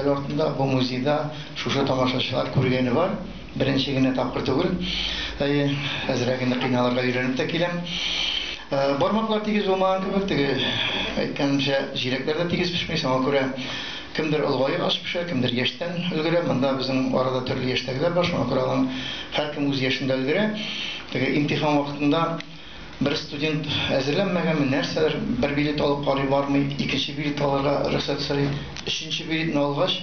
Ел артында бу музейда шушы тамашачылар күргәне бар. Беренче генә тапкыр түгел. Әйе, әзрәк инде кыйналырга өйрәнеп тә киләм. Бармаклар тигез булмаган кебек, теге әйткәнемчә, җиләкләр дә тигез пешми. Шуңа күрә кемдер олыгаеп аш пешерә, кемдер яшьтән өлгерә. Монда безнең арада төрле яшьтәгеләр бар, шуңа күрә алар һәркем үз яшендә өлгерә. Теге имтихан вакытында. Бер студент әзерләнмәгәнме, нәрсәдер, бер билет алып карый бармый, икенче билет алырга рөхсәт сорый. Өченче билетны алгач,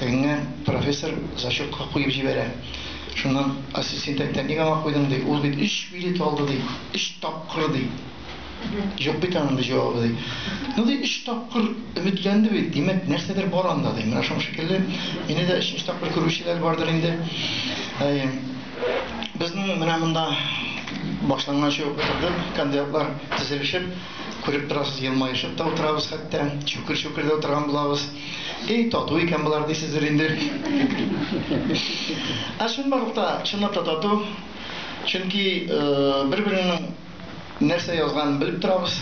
тегеңә профессор зачетка куеп җибәрә. Шуннан ассистент әйтә, ник аңа куйдың, ди, ул бит өч билет алды, ди, өч тапкыр, ди. Юк бит аның, ди, җавабы, ди. Ну, ди, өч тапкыр өметләнде бит, димәк, нәрсәдер бар анда, ди. Менә шуның шикелле, мине дә өченче тапкыр күрүчеләр бардыр инде. Әйе. Безнең менә монда башланганчы ук утырдык, кандидатлар тезелешеп, күреп торасыз, елмаешып та утырабыз хәтта, чүкер-чүкер дә утырган булабыз. Эй, тату икән болар дисездер инде. Ә чынбарлык та, чынлап та тату. Чөнки бер-береңнең нәрсә язганын белеп торабыз,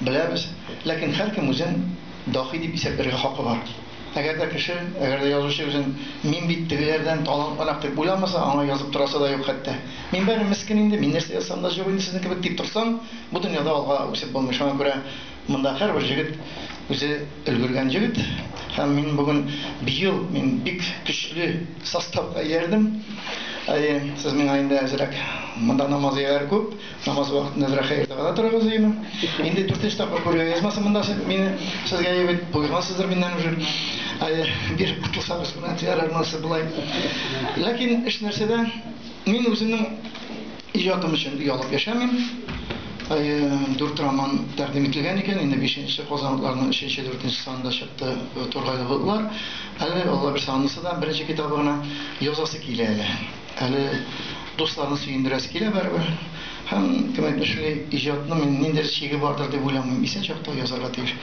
беләбез. Ләкин һәркем үзен даһи дип исәпләргә хакы бар. Әгәр дә кеше, әгәр дә язучы үзен мин бит тегеләрдән талантлырак дип уйламаса, аңа язып торасы да юк хәтта. Мин бары мескен инде, мин нәрсә язсам да җык инде сезнең кебек дип торсаң, бу дөньяда алга үсеп булмый. Шуңа күрә монда һәрбер җегет үзе өлгергән җегет. Һәм мин бүген, быел мин бик көчле составка иярдем. Әйе, сез миңа инде әзрәк. Монда намазияләр күп. Намаз вакытында берәр хәер дәгъва торыгыз өемә. Инде дүртенче тапкыр күрергә язмасын монда мине сезгә ебит. Буйгансыздыр миннән уже. Ай, бир кутылсагыз гына тиярәр монысы болай. Ләкин эш нәрсәдә? Мин үземнең иҗатым өчен ялып яшәмим. Ай, дүрт роман тәкъдим ителгән икән, инде бишенче Казанлыларның өченче, дүртенче санында чыкты Тургайлы болытлар. Әле Алла бирсә анысы да беренче китабы гына язасы килә әле. Әле дусларны сөендерәсе килә барыбер. Һәм, кем әйтмешли, иҗатның инде ниндидер чиге бардыр дип уйламыйм. Исән чакта язарга тиеш.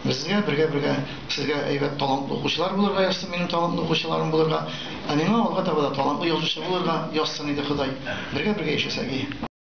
Безгә, бергә-бергә сезгә әйбәт талантлы укучылар булырга язсын, минем талантлы укучыларым булырга. Ә миңа алга таба да талантлы язучы булырга язсын иде Ходай. Бергә-бергә яшәсәги.